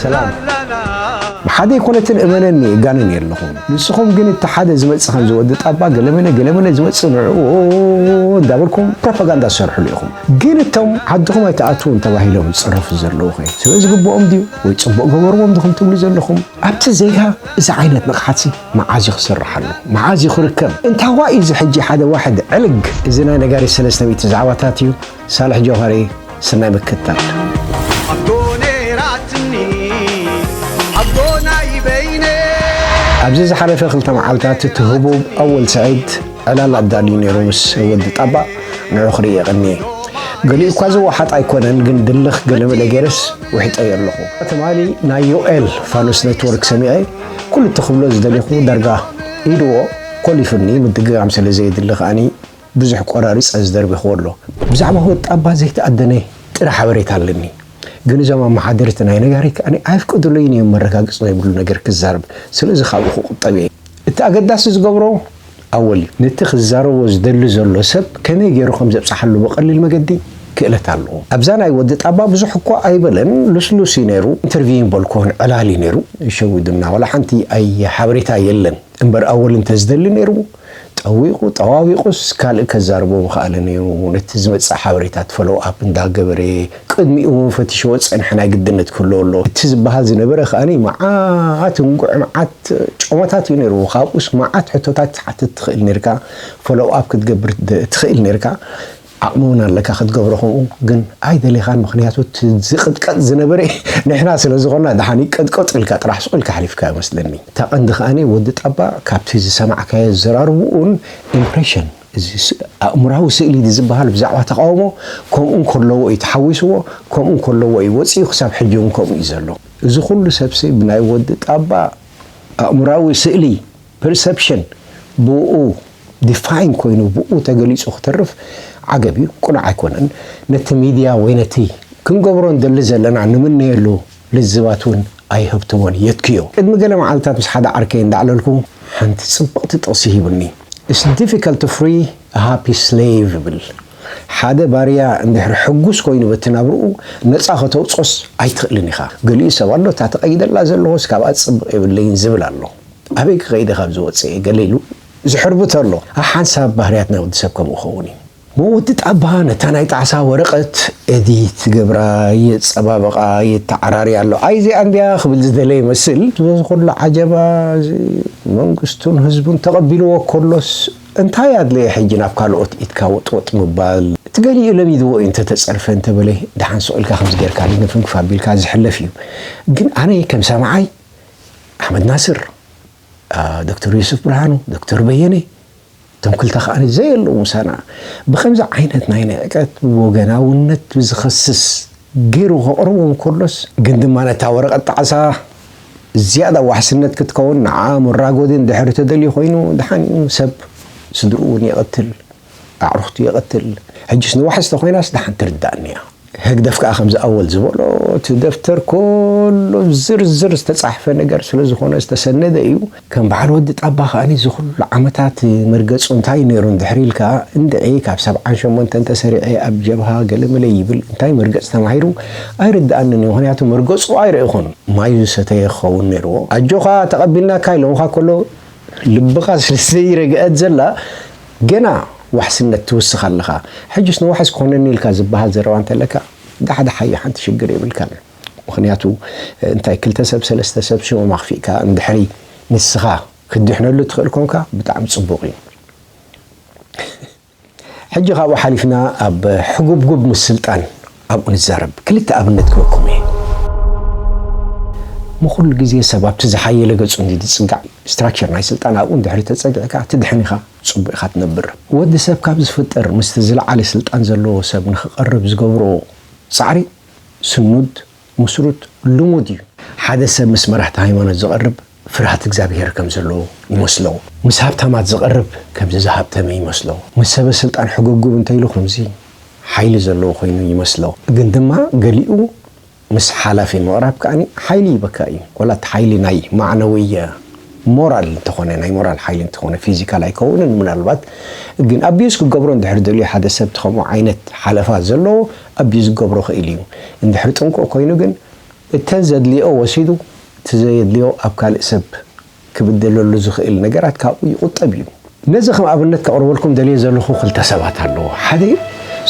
ሰላም ብሓደ ኣይኮነትን እመነኒ እጋንን የለኹም ንስኹም ግን እቲ ሓደ ዝመፅእ ከም ዝወዲ ጣባ ገለመለ ገለመለ ዝመፅእ ንዕኡ እንዳበልኩም ፕሮፓጋንዳ ዝሰርሕሉ ኢኹም ግን እቶም ዓድኹም ኣይተኣትውን ተባሂሎም ዝፅረፉ ዘለዉ ኸ ስለ ዝግብኦም ድዩ ወይ ፅቡቅ ገበርዎም ድኹም ትብሉ ዘለኹም ኣብቲ ዜጋ እዚ ዓይነት ንቕሓት መዓዝ እዩ ክስርሓሉ መዓዝ እዩ ክርከብ እንታዋይ እዚ ሕጂ ሓደ ዋሕድ ዕልግ እዚ ናይ ነጋሪት ሰለስተ ሚእቲ ዛዕባታት እዩ ሳልሕ ጆኸሪ ስናይ ምክትታል። ኣዶ ነይራትኒ ኣዶ ናይ በይነይ ኣብዚ ዝሓለፈ ክልተ መዓልታት እቲ ህቡብ ኣወል ስዒድ ዕላል ኣዳልዩ ነይሩ ምስ ወዲ ጣባ ንዑ ክርኢ የቐንየ ገሊኡ እኳ ዝወሓጥ ኣይኮነን ግን ድልኽ ገለመለ ገይረስ ውሒጠዮ ኣለኹ ትማሊ ናይ ዮኤል ፋኑስ ኔትወርክ ሰሚዐ ኩሉ እትኽብሎ ዝደሊኹ ዳርጋ ኢድዎ ኮሊፉኒ ምድግጋም ስለ ዘየድሊ ከዓኒ ብዙሕ ቆራሪጸ ዝደርቢክዎ ኣሎ። ብዛዕባ ወጣባ ዘይተኣደነ ጥረ ሓበሬታ ኣለኒ። ግን እዞም ኣመሓደርቲ ናይ ነጋሪት ከኣ ኣየፍቅዱለይን ኢዮም መረጋገጺ ዘይብሉ ነገር ክዛረብ። ስለዚ ካብኡ ክቁጠብ ኢየ። እቲ ኣገዳሲ ዝገብሮ ኣወል ኢዩ። ነቲ ክዛረቦ ዝደሊ ዘሎ ሰብ ከመይ ገይሩ ከም ዘብጽሓሉ ብቀሊል መገዲ ክእለት ኣለዎ። ኣብዛ ናይ ወዲ ጣባ ብዙሕ እኳ ኣይበለን ልስሉስ ኢዩ ነይሩ። ኢንተርቪው ኣይበልኩዎን ዕላል ኢዩ ነይሩ። ይሸውዱና ዋላ ሓንቲ ኣይ ሓበሬታ የለን። እምበር ኣወል እንተዝደሊ ነይሩ ጠዊቑ ጠዋዊቑስ ካልእ ከዛርቦ ምኸኣለ ነይሩ፣ ነቲ ዝመጽእ ሓበሬታት ፎሎው ኣፕ እንዳ ገበረ፣ ቅድሚኡ እውን ፈቲሽዎ ዝጸንሐ ናይ ግድነት ክህልዎ ኣለዎ እቲ ዝበሃል ዝነበረ ከኣ መዓት እንጉዕ መዓት ጮማታት እዩ ነይርዎ ካብኡስ መዓት ሕቶታት ክትሓትት ትኽእል ነይርካ ፎሎው ኣፕ ክትገብር ትኽእል ነይርካ ዓቅሚ ውን ኣለካ ክትገብሮ ከምኡ ግን ኣይደሌካን ምክንያቱ እቲ ዝቅጥቀጥ ዝነበረ ንሕና ስለ ዝኮና ድሓን ይቀጥቀጥ ኢልካ ጥራሕ ሱቅ ኢልካ ኣሕሊፍካዮ መስለኒ እታ ቀንዲ ከኣ ወዲ ጣባ ካብቲ ዝሰማዕካዮ ኣዘራርቡኡን impression እዚ ኣእምራዊ ስእሊ ድዝባሃል ብዛዕባ ተቃውሞ ከምኡ እንከለዎ እዩ ተሓዊስዎ ከምኡ እንከለዎ እዩ ወጺኡ ክሳብ ሕጂ ውን ከምኡ እዩ ዘሎ እዚ ኩሉ ሰብሲ ብናይ ወዲ ጣባ ኣእምራዊ ስእሊ Perception ብእኡ Define ኮይኑ ብእኡ ተገሊጹ ክተርፍ ዓገብ እዩ፣ ቅኑዕ ኣይኮነን። ነቲ ሚድያ ወይ ነቲ ክንገብሮ እንደሊ ዘለና ንምነየሉ ልዝባት እውን ኣይሀብትሞን እዩ፣ የትክዮ። ቅድሚ ገለ መዓልታት ምስ ሓደ ዓርከይ እንዳዕለልኩ ሓንቲ ጽብቕቲ ጥቕሲ ሂቡኒ፣ It's difficult to free a happy slave ይብል፣ ሓደ ባርያ እንድሕሪ ሕጉስ ኮይኑ በቲ ናብርኡ ነጻ ከተውጽኦስ ኣይትኽእልን ኢኻ። ገሊኡ ሰብ ኣሎ እታ ተቐይደላ ዘለኹስ ካብኣ ዝጽብቕ የብለይን ዝብል ኣሎ። ኣበይ ክኸይድ እየ ካብ እዚ ወጺኤ ገለ ኢሉ ዝሕርቡ ተሎ ሓንሳብ ባህርያት ናይ ወዲ ሰብ ከምኡ ክኸውን እዩ። ወዲ ጣባ ነታ ናይ ጣዕሳ ወረቐት ኤዲት ይገብራ የጸባብቓ የተዓራርያ ኣሎ። ኣይ እዚኣ እንድያ ክብል ዝደለየ ይመስል። እዚ ኩሉ ዓጀባ እዚ መንግስቱን ህዝቡን ተቐቢልዎ ከሎስ እንታይ ኣድለየ ሕጂ ናብ ካልኦት ኢድካ ወጥወጥ ምባል። እቲ ገሊኡ ለሚድዎ እዩ እንተ ተጸርፈ እንተ በለ ደሓን ሱቕ ኢልካ ከምዚ ጌርካ ድንፍንፍ ኣቢልካ ዝሕለፍ እዩ። ግን ኣነ ከም ሰማዓይ። ኣሕመድ ናስር ዶክተር ዩሱፍ ብርሃኑ ዶክተር በየነ እቶም ክልተ ከዓኒ ዘየለዉ ምሳና ብከምዚ ዓይነት ናይ ንዕቀት ወገናውነት ዝኸስስ ገይሩ ከቕርቦም ከሎስ ግን ድማ ነታ ወረቐት ጣዕሳ ዝያዳ ዋሕስነት ክትከውን ንዓ ሙራጎድን ድሕሪ ተደልዩ ኮይኑ ድሓን እዩ ሰብ ስድርኡ እውን ይቐትል ኣዕሩኽቱ ይቐትል። ሕጂስ ንዋሕስ ተኾይናስ ደሓን ትርዳኣኒ እያ። ህግደፍ ከኣ ከምዚ ኣወል ዝበሎ እቲ ደፍተር ኮሎ ዝርዝር ዝተጻሕፈ ነገር ስለ ዝኾነ ዝተሰነደ እዩ። ከም በዓል ወዲ ጣባ ከኣ እዚ ኩሉ ዓመታት መርገጹ እንታይ ነይሩ እንድሕሪ ኢልካ እንድዒ ካብ ሰብዓን ሸሞንተን ተሰሪዐ ኣብ ጀብሃ ገለመለ ይብል እንታይ መርገጽ ተማሂሩ ኣይርድኣንን እዩ ምኽንያቱ መርገጹ ኣይረእኹን ማዩ ዝሰተየ ክኸውን ነይርዎ። ኣጆኻ ተቐቢልናካ ኢሎምኻ ኮሎ ልብኻ ስለ ዘይረግኣት ዘላ ገና ዋሕስነት ትውስኽ ኣለኻ ሕጅስ ንዋሕስ ኮነኒ ኢልካ ዝባሃል ዘረባ እንተለካ ዳሕዳሓዮ ሓንቲ ሽግር የብልካን ምኽንያቱ እንታይ ክልተ ሰብ ሰለስተ ሰብ ሽሞም ኣኽፊእካ እንድሕሪ ንስኻ ክትድሕነሉ እትኽእል ኮንካ ብጣዕሚ ጽቡቕ እዩ ሕጂ ካብኡ ሓሊፍና ኣብ ሕጉብጉብ ምስልጣን ኣብኡ ንዛረብ ክልተ ኣብነት ክበኩም እየ እሞ ኩሉ ግዜ ሰብ ኣብቲ ዝሓየለ ገጹ እንድዩ ዝጽጋዕ ስትራክቸር ናይ ስልጣን ኣብኡ እንድሕሪ ተጸጊዕካ ትድሕን ኢኻ ጽቡቅ ኢኻ ትነብር ወዲ ሰብ ካብ ዝፍጠር ምስቲ ዝለዓለ ስልጣን ዘለዎ ሰብ ንኽቀርብ ዝገብሮ ጻዕሪ ስኑድ ሙስሩት ልሙድ እዩ ሓደ ሰብ ምስ መራሕቲ ሃይማኖት ዝቀርብ ፍርሃት እግዚኣብሄር ከም ዘሎ ይመስሎ። ምስ ሃብታማት ዝቐርብ ከምዚ ዝሃብተመ ይመስሎ። ምስ ሰበ ስልጣን ሕጉብጉብ እንተ ኢሉ ከምዚ ሓይሊ ዘለዎ ኮይኑ ይመስሎ። ግን ድማ ገሊኡ ምስ ሓላፊ ምቕራብ ከኣ ሓይሊ ይህበካ እዩ። ወላ እቲ ሓይሊ ናይ ማዕነዊ ሞራል እንተኾነ ናይ ሞራል ሓይሊ እንተኾነ ፊዚካል ኣይከውንን ምናልባት ግን ኣቢዩዝ ክገብሮ እንድሕር ደልዩ ሓደ ሰብ እቲ ከምኡ ዓይነት ሓለፋ ዘለዎ ኣቢዩዝ ክገብሮ ይኽእል እዩ። እንድሕር ጥንቁቕ ኮይኑ ግን እተን ዘድልየኦ ወሲዱ እቲ ዘየድልዮ ኣብ ካልእ ሰብ ክብድለሉ ዝኽእል ነገራት ካብኡ ይቑጠብ እዩ። ነዚ ከም ኣብነት ከቕርበልኩም ደልየ ዘለኹ ክልተ ሰባት ኣለዉ። ሓደ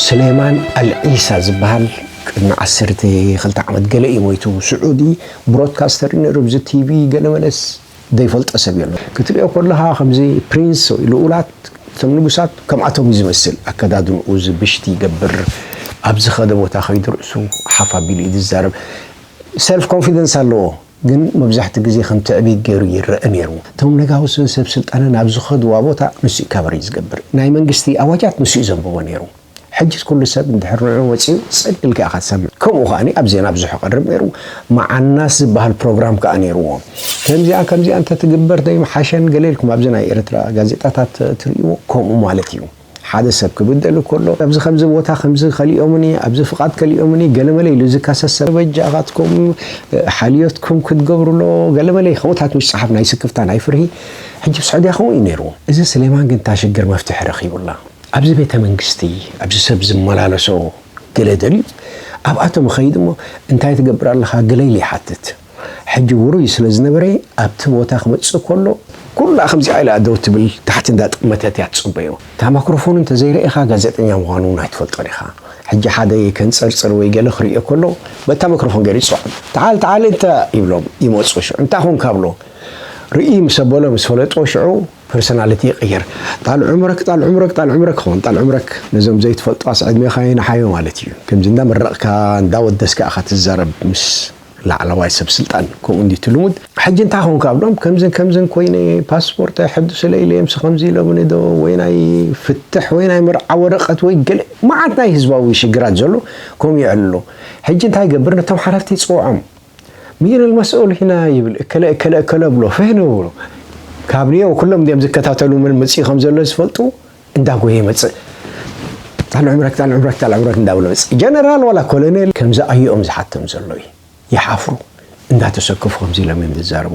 ሱሌማን ኣልዒሳ ዝበሃል ቅድሚ ዓሰርተ ክልተ ዓመት ገለ እዩ ሞይቱ። ስዑዲ ብሮድካስተር ነይሩ፣ ኣብዚ ቲቪ ገለመለስ። ዘይፈልጦ ሰብ የሎን። ክትሪኦ ኮለኻ ከምዚ ፕሪንስ ወይ ልኡላት እቶም ንጉሳት ከምኣቶም እዩ ዝመስል ኣከዳድንኡ ዝብሽቲ ይገብር ኣብ ዝኸደ ቦታ ከይዱ ርእሱ ሓፍ ኣቢሉ እዩ ዝዛረብ ሰልፍ ኮንፊደንስ ኣለዎ ግን መብዛሕትኡ ግዜ ከም ትዕቢት ጌሩ ይረኣ ኔሩ እቶም ነጋውስን ሰብ ስልጣንን ኣብ ዝኸድዋ ቦታ ንሱ እዩ ካቨር እዩ ዝገብር ናይ መንግስቲ ኣዋጃት ንሱ እዩ ዘንብቦ ኔሩ ሕጅስ ኩሉ ሰብ እንድሕር ንዑ ወጺኡ ጽድ ኢልካ ኢኻ ትሰምዕ ከምኡ ከኣ ኣብ ዜና ብዙሕ ይቀርብ ኔሩ መዓናስ ዝብሃል ፕሮግራም ከኣ ኔርዎ ከምዚኣ ከምዚኣ እንተ ትግበር ዶ ኣይምሓሸን ገለ ኢልኩም ኣብዚ ናይ ኤርትራ ጋዜጣታት ትርእይዎ ከምኡ ማለት ኢዩ ሓደ ሰብ ክብደል እንከሎ ኣብዚ ከምዚ ቦታ ከምዚ ከሊኦምኒ ኣብዚ ፍቃድ ከሊኦምኒ ገለመለ ኢሉ ዝከሰስ ሰብ በጃኻትኩም ሓልዮትኩም ክትገብርሎ ገለመለ ከምኡታት ምስ ጸሓፍ ናይ ስክፍታ ናይ ፍርሂ ሕጂ ኣብ ስዑድያ ከምኡ ኢዩ ኔሩ እዚ ስሌማን ግን እታ ሽግር መፍትሒ ረኺቡላ ኣብዚ ቤተ መንግስቲ ኣብዚ ሰብ ዝመላለሶ ገለ ደልዩ ኣብኣቶም እኸይድ እሞ እንታይ ትገብር ኣለኻ ገለ ኢለ ይሓትት ሕጂ ውሩይ ስለ ዝነበረ ኣብቲ ቦታ ክመጽእ ከሎ ኩላ ከምዚኣ ኢላ ደው ትብል ታሕቲ እንዳ ጠመተት እያ ትጽበዮ እታ ማክሮፎን እንተ ዘይረኤኻ ጋዜጠኛ ምዃኑ እውን ኣይትፈልጦን ኢኻ ሕጂ ሓደ ከንጸርጽር ወይ ገለ ክርእዮ ከሎ በታ ማክሮፎን ገይሩ ይጽዕም ተዓል ተዓል እንተ ይብሎም ይመጹ ሽዑ እንታይ ኮንካ ብሎ ርእይ ምስ ኣበሎ ምስ ፈለጦ ሽዑ ፐርሰናልቲ ይቅይር ጣል ዑምረክ ጣል ዑምረክ ጣል ዑምረክ ክኸውን ጣል ዑምረክ ነዞም ዘይትፈልጡ ኣስ ዕድሜኻ የንሓዮ ማለት እዩ ከምዚ እንዳ መረቅካ እንዳ ወደስካ ኢኻ ትዛረብ ምስ ላዕለዋይ ሰብ ስልጣን ከምኡ እንድዩ እቲ ልሙድ ሕጂ እንታይ ኮንካ ብሎም ከምዝን ከምዝን ኮይነ ፓስፖርት ኣይሐድሱለይ ኢለ ምስ ከምዚ ኢሎምኒ ዶ ወይ ናይ ፍትሕ ወይ ናይ መርዓ ወረቀት ወይ ገለ መዓት ናይ ህዝባዊ ሽግራት ዘሎ ከምኡ ይዕልሎ ሕጂ እንታይ ገብር ነቶም ሓለፍቲ ጽውዖም ሚን ኣልመስኡል ሂና ይብል እከለ እከለ እከለ ብሎ ፍህ ንብሉ ካብ ኒዮ ኩሎም ዲም ዝከታተሉ መን መጺኡ ከም ዘሎ ዝፈልጡ እንዳ ጎየ ይመጽእ ጣል ዕምረክ ጣል ዕምረክ ጣል ዕምረክ እንዳ ብሎ መጽእ ጀነራል ዋላ ኮሎኔል ከምዚ ኣዩኦም ዝሓቶም ዘሎ እዩ ይሓፍሩ እንዳተሰከፉ ከምዚ ኢሎም እዮም ዝዛረቡ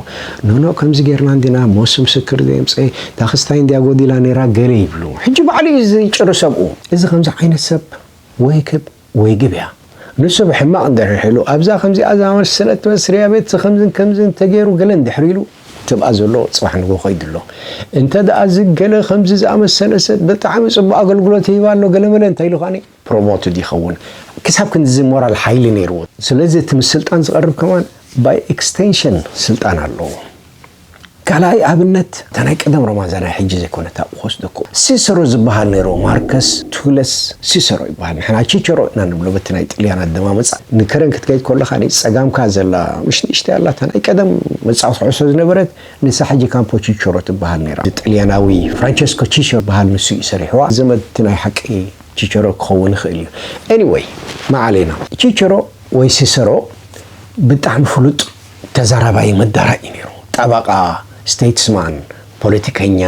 ኖኖ ከምዚ ጌርና እንዲና ሞስ ምስክር ዘየምፀ ዳክስታይ እንዲያ ጎዲላ ነይራ ገለ ይብሉ ሕጂ ባዕሉ እዩ ዝጭርሰብኡ እዚ ከምዚ ዓይነት ሰብ ወይክብ ወይ ግብያ ንሱ ብሕማቕ እንድሕር ሒሉ ኣብዛ ከምዚኣ ዝኣመሰ ሰለት መስርያ ቤት ዝኸምዝን ከምዝን ተገይሩ ገለ እንድሕር ኢሉ ትብኣ ዘሎ ጽባሕ ንግሆ ከይዱ ኣሎ እንተ ድኣ እዚ ገለ ከምዚ ዝኣመሰለ ሰብ ብጣዕሚ ጽቡቕ ኣገልግሎት ይህብ ኣሎ ገለ መለ እንታይ ኢሉ ኸኣኒ ፕሮሞትድ ይኸውን ክሳብ ክንድዚ ሞራል ሓይሊ ነይርዎ ስለዚ እቲ ምስ ስልጣን ዝቐርብ ከማን ባይ ኤክስተንሽን ስልጣን ኣለዎ ካልኣይ ኣብነት እታ ናይ ቀደም ሮማንዛ ናይ ሕጂ ዘይኮነት ኣብኡ ክወስደኩ ሲሰሮ ዝባሃል ነይሩ ማርከስ ቱለስ ሲሰሮ ይባሃል ንሕና ቺቸሮ ኢና ንብሎ በቲ ናይ ጥልያን ኣደማምጻ ንከረን ክትከይድ ኮለካ ነቲ ጸጋምካ ዘላ ምሽ ንእሽተይ ኣላ እታ ናይ ቀደም መጻወቲ ዑሶ ዝነበረት ንሳ ሕጂ ካምፖ ቺቸሮ ትባሃል ነይራ ጥልያናዊ ፍራንቸስኮ ቺቸሮ ዝባሃል ንሱ እዩ ሰሪሕዋ ዘመድ እቲ ናይ ሓቂ ቺቸሮ ክከውን ይክእል እዩ ኤኒወይ ማዓሌና ቺቸሮ ወይ ሲሰሮ ብጣዕሚ ፍሉጥ ተዛራባይ መዳራእ እዩ ነይሩ። ጠበቓ፣ ስተይትስማን፣ ፖለቲከኛ፣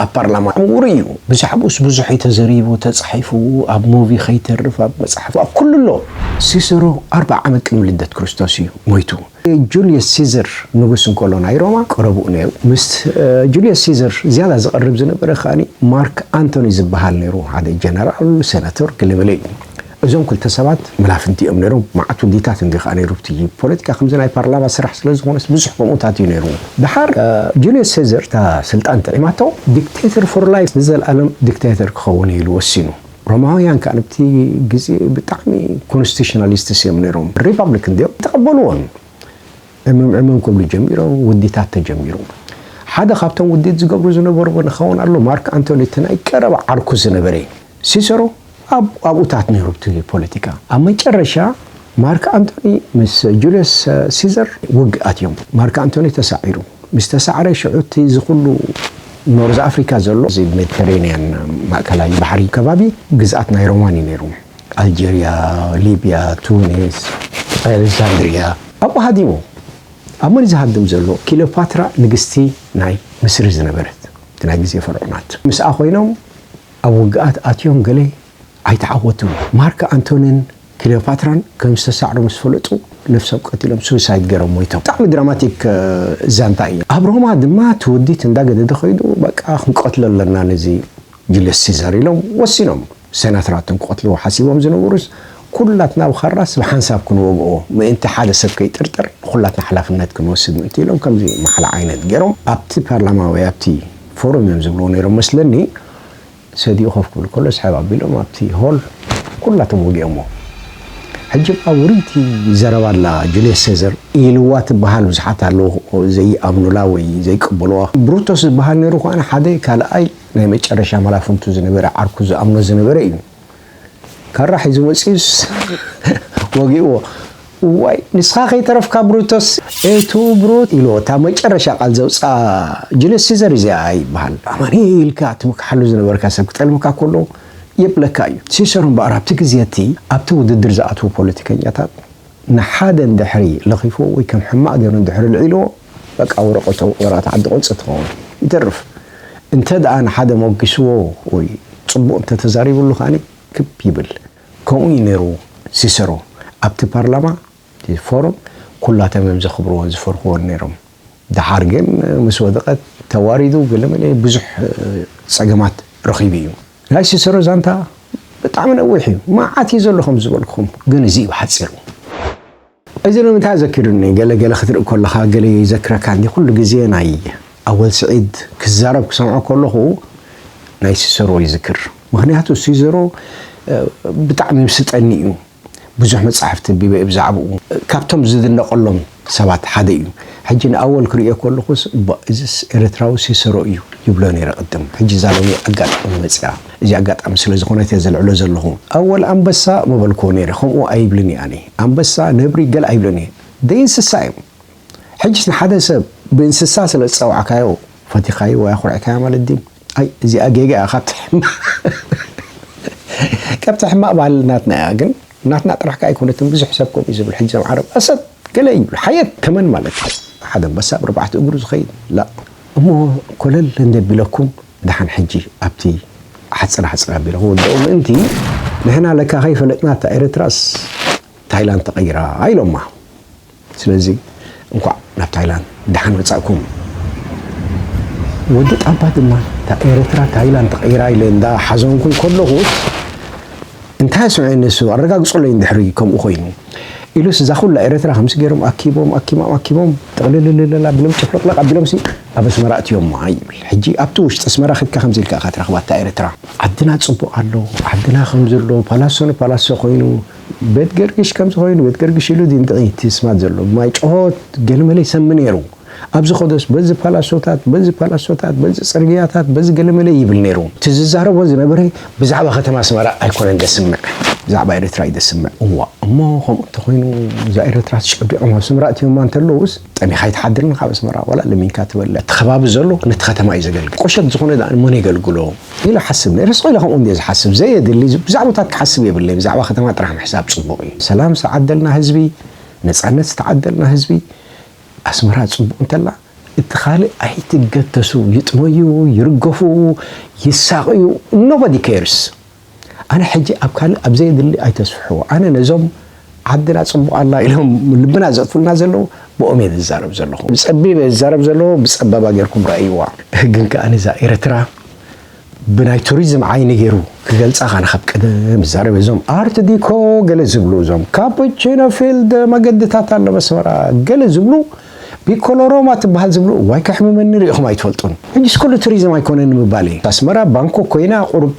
ኣብ ፓርላማ ዕዉር እዩ። ብዛዕብኡስ ብዙሕ እዩ ተዘሪቡ፣ ተጻሒፉ፣ ኣብ ሙቪ ከይተርፍ ኣብ መጻሕፍቲ ኣብ ኩሉ ኣሎ። ሲሰሮ ኣርብዓ ዓመት ቅድሚ ልደት ክርስቶስ እዩ ሞይቱ። ጁልየስ ሲዘር ንጉስ እንከሎ ናይ ሮማ ቀረብኡ ነይሩ። ምስ ጁልየስ ሲዘር ዝያዳ ዝቐርብ ዝነበረ ከኣ ማርክ ኣንቶኒ ዝበሃል ነይሩ፣ ሓደ ጀነራል፣ ሰነቶር ገለመለ እዩ። እዞም ክልተ ሰባት መላፍንቲ እዮም ነይሮም መዓት ውዲታት እንድዩ ከኣ ነይሩ ኣብቲ ፖለቲካ ከምዚ ናይ ፓርላማ ስራሕ ስለ ዝኾነስ ብዙሕ ከምኡታት እዩ ነይሩ ደሓር ጁልየስ ሴዘር እታ ስልጣን ጥዒማቶ ዲክተተር ፎር ላይፍ ንዘልኣለም ዲክተተር ክኸውን እዩ ኢሉ ወሲኑ ሮማውያን ከኣ ኣብቲ ግዜ ብጣዕሚ ኮንስቲሽናሊስትስ እዮም ነይሮም ሪፓብሊክ እንድዮም ተቐበልዎን ዕምም ዕምም ክብሉ ጀሚሮም ውዲታት ተጀሚሩ ሓደ ካብቶም ውዲት ዝገብሩ ዝነበርዎ ንኸውን ኣሎ ማርክ ኣንቶኒ እቲ ናይ ቀረባ ዓርኩ ዝነበረ እዩ ሲሰሮ ኣብ ኣብኡታት ነይሩ እቲ ፖለቲካ። ኣብ መጨረሻ ማርክ ኣንቶኒ ምስ ጁልዮስ ሲዘር ውግእ ኣትዮም። ማርክ ኣንቶኒ ተሳዒሩ ምስ ተሳዕረ ሽዑ እቲ እዚ ኩሉ ኖርዝ ኣፍሪካ ዘሎ እዚ ሜዲተራንያን ማእከላይ ባሕሪ ከባቢ ግዝኣት ናይ ሮማን እዩ ነይሩ። ኣልጀርያ፣ ሊብያ፣ ቱኒስ፣ ኣሌክሳንድርያ ኣብኡ ሃዲሙ። ኣብ መን እዩ ዝሃድም ዘሎ? ኪሎፓትራ ንግስቲ ናይ ምስሪ ዝነበረት እቲ ናይ ግዜ ፈርዖናት ምስኣ ኮይኖም ኣብ ውግኣት ኣትዮም ገለ ኣይተዓወቱን። ማርክ ኣንቶንን ክሊዮፓትራን ከም ዝተሳዕሩ ምስ ፈለጡ ነብሶም ቀቲሎም፣ ሱይሳይድ፣ ገይሮም ሞይቶም። ብጣዕሚ ድራማቲክ ዛንታ እዩ። ኣብ ሮማ ድማ እቲ ውዲት እንዳገደደ ከይዱ በቃ ክንቀትሎ ኣለና ነዚ ጁልየስ ሲዛር ኢሎም ወሲኖም። ሰናተራቶም ክቐትልዎ ሓሲቦም ዝነበሩስ ኩላትና ኣብ ኻራስ ብሓንሳብ ክንወግኦ ምእንቲ ሓደ ሰብ ከይጥርጠር ንኹላትና ሓላፍነት ክንወስድ ምእንቲ ኢሎም ከምዚ ማሕላ ዓይነት ጌሮም ኣብቲ ፓርላማ ወይ ኣብቲ ፎረም እዮም ዝብልዎ ኔሮም መስለኒ ሰዲኡ ኮፍ ክብል ከሎ ስሕብ ኣቢሎም ኣብቲ ሆል ኩላቶም ወጊኦሞ ሕጂ እባ ውርይቲ ዘረባ ኣላ ጁልየስ ሴዘር ኢልዋ ትብሃል ብዙሓት ኣለዉ ዘይኣምኑላ ወይ ዘይቅበልዋ ብሩቶስ ዝብሃል ኔሩ ኳነ ሓደ ካልኣይ ናይ መጨረሻ መላፍንቱ ዝነበረ ዓርኩ ዝኣምኖ ዝነበረ እዩ ካራ ሒዙ መጺኡስ ወጊእዎ እዋይ ንስኻ ከይተረፍካ ብሩቶስ ኤቱ ብሩት ኢልዎ እታ መጨረሻ ቃል ዘውጽኣ ጁልየስ ሲዘር እዚኣ ይበሃል ኣማኒ ኢልካ ትምክሓሉ ዝነበርካ ሰብ ክጠልመካ ኮሎ የብለካ እዩ ሲሰር እምበኣር ኣብቲ ግዜ እቲ ኣብቲ ውድድር ዝኣትዉ ፖለቲከኛታት ንሓደ እንድሕሪ ለኺፍዎ ወይ ከም ሕማቕ ገይሩ እንድሕሪ ኣልዒልዎ በቃ ወረቐቱ ኣብ ወረቐት ዓዲ ቁንጺ ትኸውን። ይተርፍ እንተድኣ ንሓደ ሞጊስዎ ወይ ጽቡቕ እንተተዛሪብሉ ከኣ ክብ ይብል። ከምኡ እዩ ነይሩ ሲሰሮ ኣብቲ ፓርላማ፣ እቲ ፎረም፣ ኩላቶም እዮም ዘኽብርዎን ዝፈርሕዎን ነይሮም። ደሓር ግን ምስ ወደቐት ተዋሪዱ ገለመለ ብዙሕ ጸገማት ረኺቡ እዩ። ናይ ሲሰሮ ዛንታ ብጣዕሚ ነዊሕ እዩ መዓት እዩ ዘሎ ከም ዝበልኩኹም ግን እዚ እዩ ብሓጺሩ። እዚ ንምንታይ ኣዘኪሩኒ ገለ ገለ ክትርኢ ኮለኻ ገለ ይዘክረካ እንዲ ኩሉ ግዜ ናይ ኣወል ስዒድ ክዛረብ ክሰምዖ ኮለኹ ናይ ሲሰሮ ይዝክር ምኽንያቱ ሲዘሮ ብጣዕሚ ይምስጠኒ እዩ። ብዙሕ መጻሕፍቲ ኣንቢበ እየ ብዛዕብኡ። ካብቶም ዝድነቐሎም ሰባት ሓደ እዩ። ሕጂ ንኣወል ክርእዮ ከለኹስ እባ እዝስ ኤርትራዊ ሲሰሮ እዩ ይብሎ ነይረ ቅድም። ሕጂ እዛ ሎሚ ኣጋጣሚ መጺኣ። እዚ ኣጋጣሚ ስለ ዝኾነት እየ ዘልዕሎ ዘለኹ። ኣወል ኣንበሳ ምበልክዎ ነይረ። ከምኡ ኣይብልን እየ ኣነ። ኣንበሳ፣ ነብሪ፣ ገለ ኣይብልን እየ። ደይእንስሳ እዮም። ሕጅስ ንሓደ ሰብ ብእንስሳ ስለ ዝጸዋዕካዮ ፈቲኻዮ ወይ ኣኹሪዕካዮ ማለት ድዩ? ኣይ እዚኣ ጌጋ እያ ካብቲ ሕማቅ ካብቲ ሕማቅ ባህሊ ናትና እያ ግን ናትና ጥራሕ ከኣ ኣይኮነትን ብዙሕ ሰብ ከምኡ እዩ ዝብል ሕጂ እዞም ዓረብ ኣሰድ ገለ እዩ ዝብሉ ሓየት ተመን ማለት እዩ ሓደ ኣንበሳ ብ ኣርባዕተ እግሩ ዝኸይድ ላእ እሞ ኮለል እንደቢለኩም ደሓን ሕጂ ኣብቲ ሓጽር ሓጽር ኣቢለ ክውድኦ ምእንቲ ንሕና ለካ ከይፈለጥና እታ ኤረትራስ ታይላንድ ተቀይራ ኢሎማ። ስለዚ እንኳዕ ናብ ታይላንድ ደሓን መጻእኩም። ወዲ ጣባ ድማ እታ ኤረትራ ታይላንድ ተቀይራ ኢለ እንዳ ሓዘንኩ ከለኹ እንታይ ኣስምዐ ንሱ ኣረጋግጹለይ እንድሕሪ ከምኡ ኮይኑ ኢሉስ እዛ ኩላ ኤረትራ ከምዚ ገይሮም ኣኪቦም ኣኪሞም ኣኪቦም ጥቅልልልል ኣቢሎም ጭፍልቅልቅ ኣቢሎምሲ ኣብ ኣስመራ ኣእትዮማ ይብል ሕጂ ኣብቲ ውሽጢ ኣስመራ ከድካ ከምዚ ኢልካ ኢካ ትረክባ እታ ኤረትራ ዓድና ጽቡቅ ኣሎ ዓድና ከምዚ ኣሎ ፓላሶ ንፓላሶ ኮይኑ ቤት ገርግሽ ከምዚ ኮይኑ ቤት ገርግሽ ኢሉ ድዩ ንጥቕይ እቲ ስማት ዘሎ ማይ ጭሆት ገለመለ ይሰሚ ነይሩ ኣብዚ ከዶስ በዚ ፓላሶታት በዚ ፓላሶታት በዚ ጽርግያታት በዚ ገለመለ ይብል ነይሩ እቲ ዝዛረቦ ዝነበረ ብዛዕባ ከተማ ኣስመራ ኣይኮነን ዘስምዕ ብዛዕባ ኤርትራ እዩ ዘስምዕ እዋ እሞ ከምኡ እንተኾይኑ እዛ ኤርትራ ተጨቢዖም ኣብ ስምራ እትዮማ እንተለውስ ጠሚኻ ኣይትሓድርን ካብ ኣስመራ ዋላ ለሚንካ ትበልዕ እቲ ከባቢ ዘሎ ነቲ ከተማ እዩ ዘገልግል ቁሸት ዝኾነ ድኣ ንመን የገልግሎ ኢለ እሓስብ ነይረ ስቅ ኢለ ከምኡ እንድየ ዝሓስብ ዘየድሊ ብዛዕቦታት ክሓስብ የብለይ ብዛዕባ ከተማ ጥራሕ ምሕሳብ ፅቡቅ እዩ ሰላም ዝተዓደልና ህዝቢ ነፃነት ዝተዓደልና ህዝቢ ኣስመራ ፅቡቅ እንተላ እቲ ካልእ ኣይትገተሱ ይጥመዩ ይርገፉ ይሳቅዩ nobody cares ኣነ ሕጂ ኣብ ካልእ ኣብ ዘየድሊ ኣይተስፍሕዎ ኣነ ነዞም ዓድና ጽቡቅ ኣላ ኢሎም ልብና ዘጥፉልና ዘለዉ ብኦም እየ ዝዛረብ ዘለኹ ብጸቢብ እየ ዝዛረብ ዘለዎ ብጸባባ ጌርኩም ረኣይዋ። ግን ከኣ እዛ ኤረትራ ብናይ ቱሪዝም ዓይኒ ጌሩ ክገልጻ ካነ ካብ ቀደም ዝዛረብ እዞም ኣርት ዲኮ ገለ ዝብሉ እዞም ካፑቺኖ ፊልድ መገድታት ኣሎ መስመራ ገለ ዝብሉ ፒኮሎሮማ ትበሃል ዝብሉ ዋይ ከሕምመኒ ሪኢኹም ኣይትፈልጡን ሕጂስ ኩሉ ቱሪዝም ኣይኮነን ንምባል እዩ ኣስመራ ባንኮ ኮይና ቁሩብ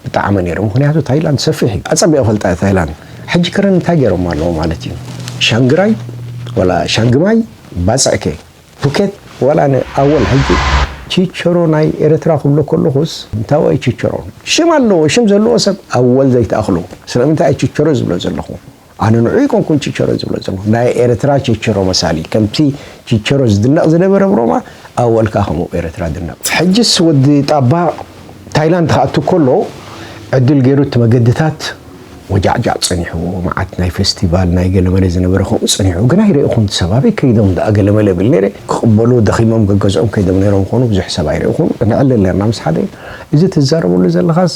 ብጣዕሚ ነይሩ ምክንያቱ ታይላንድ ሰፊሕ እዩ ኣፀቢቀ ፈልጣ እየ ታይላንድ ሕጂ ከረን እንታይ ገይሮማ ኣለዉ ማለት እዩ ሻንግራይ ወላ ሻንግማይ ባፅዕከ ፑኬት ወላ ን ኣወል ሕጂ ቺቸሮ ናይ ኤረትራ ክብሎ ከለኩስ እንታዋይ ቺቸሮ ሽም ኣለዎ ሽም ዘለዎ ሰብ ኣወል ዘይትኣክሉ ስለምንታይ እየ ቺቸሮ ዝብሎ ዘለኩ ኣነ ንዑ ኣይኮንኩን ቺቸሮ ዝብሎ ዘለኹ ናይ ኤርትራ ቺቸሮ መሳሊ ከምቲ ቺቸሮ ዝድነቕ ዝነበረ ብሮማ ኣወልካ ከምኡ ኤርትራ ድነቕ። ሕጅስ ወዲ ጣባ ታይላንድ ክኣቱ ከሎ ዕድል ጌሩ እቲ መገድታት ወጃዕጃዕ ጸኒሕዎ መዓት ናይ ፈስቲቫል ናይ ገለመለ ዝነበረ ከምኡ ጸኒሑ ግን ኣይረእኹን ሰብ ኣበይ ከይዶም ደኣ ገለመለ እብል ኔረ ክቕበሉ ደኺሞም ገገዝኦም ከይዶም ኔሮም ይኾኑ ብዙሕ ሰብ ኣይረእኹን ንዕልል ኔርና ምስ ሓደ እዚ ትዛረበሉ ዘለኻስ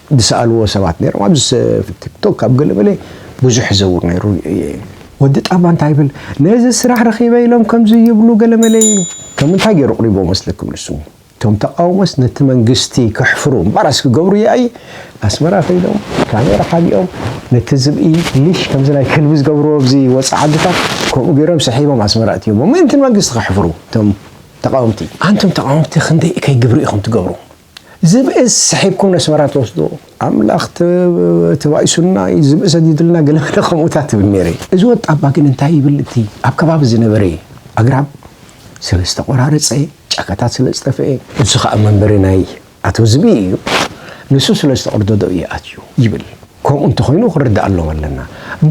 ዝሰኣልዎ ሰባት ነይሮም ኣብዚ ቲክቶክ ኣብ ገለመለ ብዙሕ ይዘውር ነይሩ እየ ኢሉ። ወዲ ጣባ እንታይ ይብል ነዚ ስራሕ ረኺበ ኢሎም ከምዚ ይብሉ ገለመለ ኢሉ። ከም እንታይ ገይሩ ኣቕሪብዎ መስለኩም ንሱ እቶም ተቓውሞስ ነቲ መንግስቲ ከሕፍሩ እምባራስ ክገብሩ እየ ኣየ ኣስመራ ከይዶም ካሜራ ሓቢኦም ነቲ ዝብኢ ሊሽ ከምዚ ናይ ከልቢ ዝገብርዎ ኣብዚ ወጻኢ ዓድታት ከምኡ ገይሮም ስሒቦም ኣስመራ ኣእትዮሞ ምእንቲ ንመንግስቲ ከሕፍሩ እቶም ተቓወምቲ። ኣንቱም ተቓወምቲ ክንደይ እከይ ግብሪ ኢኹም ትገብሩ? ዝብእስ ስሒብኩም ነስመራ ትወስድዎ ኣምላኽ ተባኢሱና እዩ ዝብኢ ሰዲድልና ገለ ገለ ከምኡታት ትብል ነይረ እዚ ወጣባ ግን እንታይ ይብል እቲ ኣብ ከባቢ ዝነበረ ኣግራብ ስለ ዝተቆራረጸ ጫካታት ስለ ዝጠፍኤ እዚ ከኣ መንበሪ ናይ ኣቶ ዝብኢ እዩ ንሱ ስለ ዝተቐርደዶ እዩ ኣትዩ ይብል ከምኡ እንተኾይኑ ክንርድኣሎም ኣለና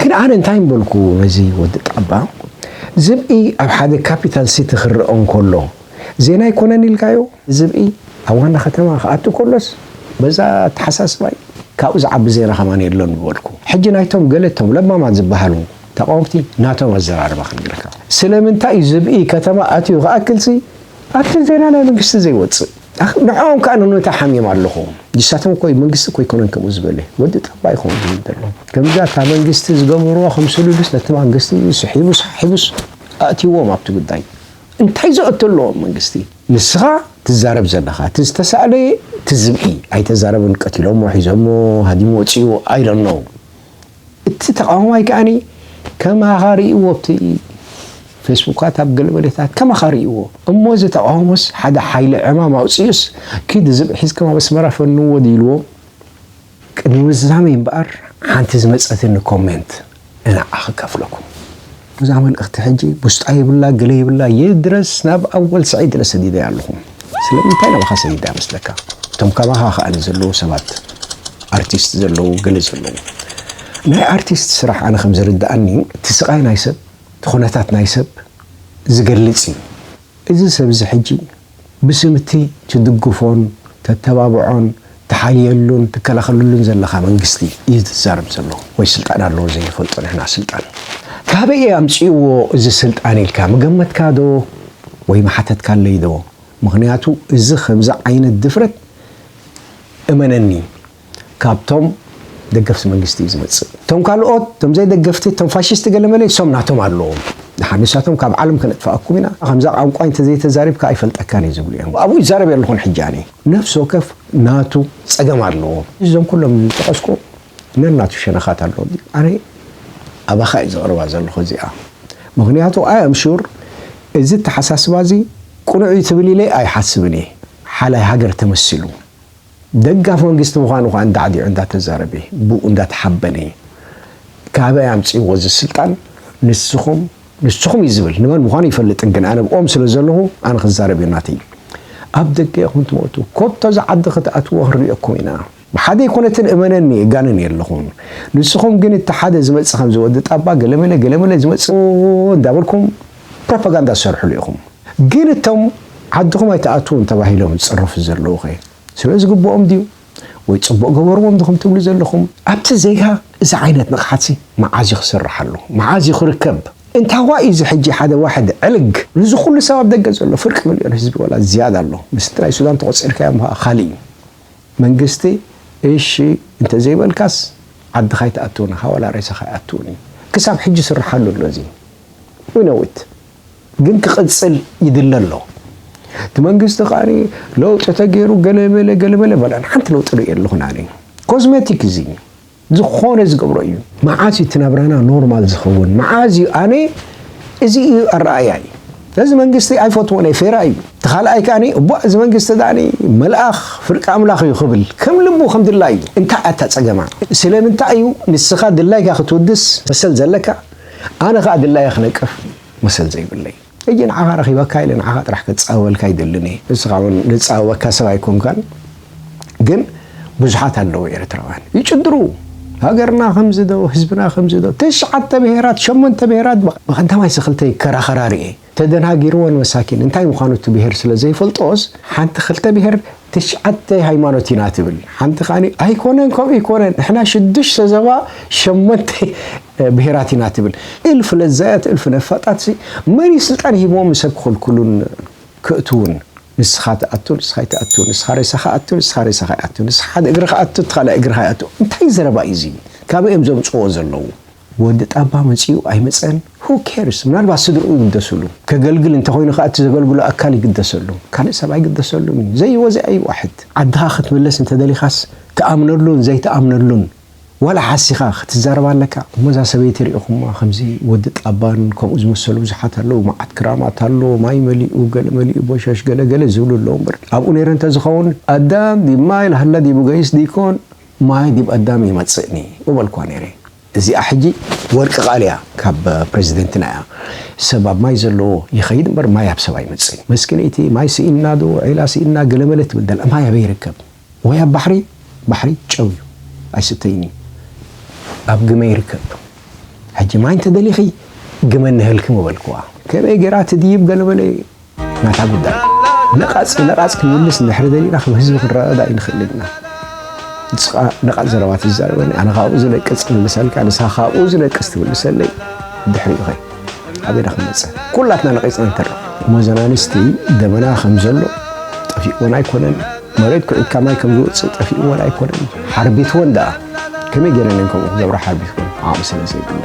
ግን ኣነ እንታይ ምበልኩ ነዚ ወዲ ጣባ ዝብኢ ኣብ ሓደ ካፒታል ሲቲ ክረኦ እንከሎ ዜና ኣይኮነን ኢልካዮ? ዝብኢ ኣብ ዋና ከተማ ክኣቱ ከሎስ በዛ ኣተሓሳስባይ ካብኡ ዝዓቢ ዜና ከማን የሎን ምበልኩ። ሕጂ ናይቶም ገለ እቶም ለባማት ዝበሃሉ ተቓወምቲ ናቶም ኣዘራርባ ክንገረካ። ስለምንታይ እዩ ዝብኢ ከተማ ኣትዩ ክኣክልሲ ኣብቲ ዜና ናይ መንግስቲ ዘይወጽእ? ኣኽ ንዕኦም ከኣ ንምንታይ ሓምዮም ኣለኹ። ንሳቶም እኮ መንግስቲ እኮ ኣይኮነን ከምኡ ዝበለ። ወዲ ጠባ እዩ ከምኡ ዝብል ዘሎ። ከምዛ እታ መንግስቲ ዝገበርዋ ከምስሉሉስ ነቲ ማንግስቲ ስሒቡስ ሓሒቡስ ኣእትይዎም ኣብቲ ጉዳይ። እንታይ ዘእቶ ኣለዎ መንግስቲ። ንስኻ ትዛረብ ዘለኻ እቲ ዝተሳእለ እቲ ዝብኢ ኣይተዛረበን ቀቲሎሞ ሒዞሞ ሃዲሙ ወጺኡ I don't know እቲ ተቃዋማይ ከኣ ከማኻ ሪኢዎ ኣብቲ ፌስቡካት ኣብ ገለ መደታት ከማኻ ሪኢዎ እሞ እዚ ተቃውሞስ ሓደ ሓይሊ ዕማም ኣውጺኡስ ኪድ ዝብኢ ሒዝካም ኣብ ኣስመራ ፈንዎ ድዩ ኢልዎም ቅድሚ ምዝዛመይ እምበኣር ሓንቲ ዝመጸትኒ comment ንዓኣ ክከፍለኩም እዛ መልእክቲ ሕጂ ቡስጣ የብላ ገለ የብላ ይድረስ ናብ ኣወል ስዒድ እለ ሰዲደያ ኣለኹ ስለምንታይ ናባኻ ሰዲደያ መስለካ እቶም ካባኻ ከኣ ንዘለዉ ሰባት ኣርቲስት ዘለዉ ገለ ዘለዉ ናይ ኣርቲስት ስራሕ ኣነ ከም ዝርድኣኒ እቲ ስቃይ ናይ ሰብ እቲ ኩነታት ናይ ሰብ ዝገልጽ እዩ እዚ ሰብ'ዚ ሕጂ፣ ብስም'ቲ ትድግፎን ተተባብዖን ትሓልየሉን ትከላኸለሉን ዘለኻ መንግስቲ እዩ ዝዛረብ ዘሎ፣ ወይ ስልጣን ኣለዎ ዘይንፈልጦ ንሕና ስልጣን። ካበይ እዩ ኣምጺእዎ እዚ ስልጣን ኢልካ ምገመትካዶ ወይ ምሓተትካለይዶ? ምኽንያቱ እዚ ከምዚ ዓይነት ድፍረት እመነኒ፣ ካብቶም ደገፍቲ መንግስቲ እዩ ዝመጽእ እቶም ካልኦት እቶም ዘይደገፍቲ እቶም ፋሽስቲ ገለመለ ንሶም ናቶም ኣለዎም ድሓር ንሳቶም ካብ ዓለም ከነጥፍኣኩም ኢና ከምዛ ቛንቛይ እንተዘይተዛሪብካ ኣይፈልጠካን እየ ዝብሉ እዮም ኣብኡ ይዛረብ የለኹን ሕጂ ኣነ ነፍሲ ወከፍ ናቱ ጸገም ኣለዎ እዞም ኩሎም ዝጠቐስኩ ነናቱ ሸነኻት ኣለዎ ኣነ ኣባኻ እዩ ዘቕርባ ዘለኹ እዚኣ ምክንያቱ ኣይ ኣም ሹር እዚ ተሓሳስባ እዚ ቁኑዕ እዩ ትብል ኢለ ኣይሓስብን እየ ሓላይ ሃገር ተመሲሉ ደጋፊ መንግስቲ ምዃኑ ከኣ እንዳዕዲዑ እንዳተዛረበ ብኡ እንዳተሓበነ እዩ ካበይ ኣምጺእዎ እዚ ስልጣን ንስኹም ንስኹም እዩ ዝብል ንመን ምዃኑ ይፈልጥን ግን ኣነ ብኦም ስለ ዘለኹ ኣነ ክዛረብ እዩ ናተይ ኣብ ደገ ኢኹም ትሞቱ ኮቶ እዚ ዓዲ ክትኣትዎ ክንሪኦኩም ኢና ብሓደ ኣይኮነትን እመነኒ እጋንን የለኹን ንስኹም ግን እቲ ሓደ ዝመጽእ ከምዚ ወዲ ጣባ ገለመለ ገለመለ ዝመጽእ እንዳበልኩም ፕሮፓጋንዳ ትሰርሕሉ ኢኹም ግን እቶም ዓድኹም ኣይትኣትዉን ተባሂሎም ዝፅረፉ ዘለዉኸ ስለ ዝግብኦም ድዩ ወይ ፅቡቕ ገበርዎም ድኹም ትብሉ ዘለኹም? ኣብቲ ዜጋ እዚ ዓይነት ንቕሓትሲ መዓዝ እዩ ክስርሓሉ? መዓዝ እዩ ክርከብ? እንታዋይ እዩ እዚ ሕጂ ሓደ ዋሕድ ዕልግ ንዚ ኩሉ ሰብ ኣብ ደገ ዘሎ ፍርቂ ምልዮን ህዝቢ ወላ ዝያዳ ኣሎ ምስቲ ናይ ሱዳን ተቖፂርካዮም ኸኣ ካልእ እዩ መንግስቲ እሺ እንተዘይበልካስ ዓድኻ ኣይትኣትውን ኢኻ ወላ ሬሳኻ ኣይኣትውን እዩ ክሳብ ሕጂ ይስርሓሉ ኣሎ እዚ we know it ግን ክቅጽል ይድለ ኣሎ እቲ መንግስቲ ከኣ ለውጢ ተገይሩ ገለበለ ገለበለ በላን ሓንቲ ለውጢ ርኢ ኣለኹን ኣነ ኮዝሜቲክ እዚ ዝኾነ ዝገብሮ እዩ መዓዝ እዩ እቲ ናብራና ኖርማል ዝኸውን መዓዝ እዩ ኣነ እዚ እዩ ኣረኣያይ እዚ መንግስቲ ኣይፈትዎን እየ ፌራ እዩ እቲ ካልኣይ ከኣ እቧ እዚ መንግስቲ ዳኣ መልኣኽ ፍርቂ ኣምላኽ እዩ ክብል ከም ልቡ ከም ድላዩ እንታይ ኣታ ጸገማ ስለምንታይ እዩ ንስኻ ድላይካ ክትውድስ መሰል ዘለካ ኣነ ከኣ ድላየ ክነቅፍ መሰል ዘይብለይ ሕጂ ንዓኻ ረኺበካ ኢለ ንዓኻ ጥራሕ ክጻወበልካ ኣይደልን እየ ንስኻ ውን ዝጻወበካ ሰብ ኣይኮንካን ግን ብዙሓት ኣለዉ ኤርትራውያን ይጭድሩ ሃገርና ከምዚ ዶ ህዝብና ከምዚ ዶ ትሽዓተ ብሄራት ሸሞንተ ብሄራት ብቀዳማይ ስክልተይ ክከራኸራ ሪኤ ተደናጊርወን መሳኪን እንታይ ምዃኑ እቲ ብሄር ስለ ዘይፈልጦስ ሓንቲ ክልተ ብሄር ትሽዓተ ሃይማኖት ኢና ትብል ሓንቲ ከዓኒ ኣይኮነን ከምኡ ይኮነን ንሕና ሽዱሽተ ዘባ ሸሞንተ ብሄራት ኢና ትብል እልፍ ለዛያት እልፍ ነፋጣት መን እዩ ስልጣን ሂብዎም ንሰብ ክኽልክሉን ክእትውን ንስኻ ትኣቱ ንስኻ ይትኣቱ ንስኻ ሬሳኻ ኣቱ ንስኻ ሬሳኻ ይኣቱ ንስኻ ሓደ እግርኻ ኣቱ እቲ ካልኣይ እግርኻ ይኣቱ እንታይ ዘረባ እዩ እዚ ካበይ እዮም ዘምፅዎ ዘለዉ ወዲ ጣባ መጺኡ ኣይመጸን who cares ምናልባት ስድርኡ ይግደስሉ ከገልግል እንተኾይኑ ከኣ እቲ ዘገልግሎ ኣካል ይግደሰሉ ካልእ ሰብ ኣይግደሰሉን እዩ ዘይወዘ ኣይ ዋሕድ ዓድኻ ክትምለስ እንተደሊኻስ ትኣምነሉን ዘይትኣምነሉን ዋላ ሓሲኻ ክትዛረብ ኣለካ እሞ እዛ ሰበይቲ ሪኢኹማ ከምዚ ወዲ ጣባን ከምኡ ዝመሰሉ ብዙሓት ኣለዉ መዓት ክራማት ኣሎ ማይ መሊኡ ገለ መሊኡ ቦሸሽ ገለ ገለ ዝብሉ ኣለዉ እምበር ኣብኡ ነይረ እንተዝኸውን ኣዳም ዲብ ማይ ላህላ ዲብ ገይስ ዲኮን ማይ ዲብ ኣዳም ይመጽእኒ ምበልክዋ ነይረ እዚኣ ሕጂ ወርቂ ቃል እያ ካብ ፕረዚደንትና እያ ሰብ ኣብ ማይ ዘለዎ ይከይድ እምበር ማይ ኣብ ሰብ ኣይመጽእን መስኪነይቲ ማይ ስኢንና ዶ ዒላ ስኢንና ገለመለ ትብል ዘላ ማይ ኣበይ ይርከብ ወይ ኣብ ባሕሪ ባሕሪ ጨው እዩ ኣይስተይን እዩ ኣብ ግመ ይርከብ ሕጂ ማይ እንተደሊኪ ግመ ንሀልኪ ምበልክዋ ከመይ ገይራ ትድይብ ገለመለ ናታ ጉዳይ ነቓጽ ብነቓጽ ክንምልስ እንድሕሪ ደሊና ከም ህዝቢ ክንረዳዳ ኣይንኽእልን ኢና። ንስኻ ነቓጽ ዘረባ ትዛረበኒ ኣነ ካብኡ ዝነቅጽ ክምልሰልካ ንስኻ ካብኡ ዝነቅስ ትምልሰለይ ድሕሪኡ ኸይ ኣበና ክንመጽእ ኩላትና ነቒጽና ንተርፍ ሞዘናንስቲ ደመና ከም ዘሎ ጠፊእዎን ኣይኮነን መሬት ኩዒትካ ማይ ከም ዝወፅእ ጠፊእዎን ኣይኮነን ሓርቢትዎን ደኣ ከመይ ገይረን እየን ከምኡ ክገብራ ሓርቢትዎን ዓቕሚ ስለ ዘይብለን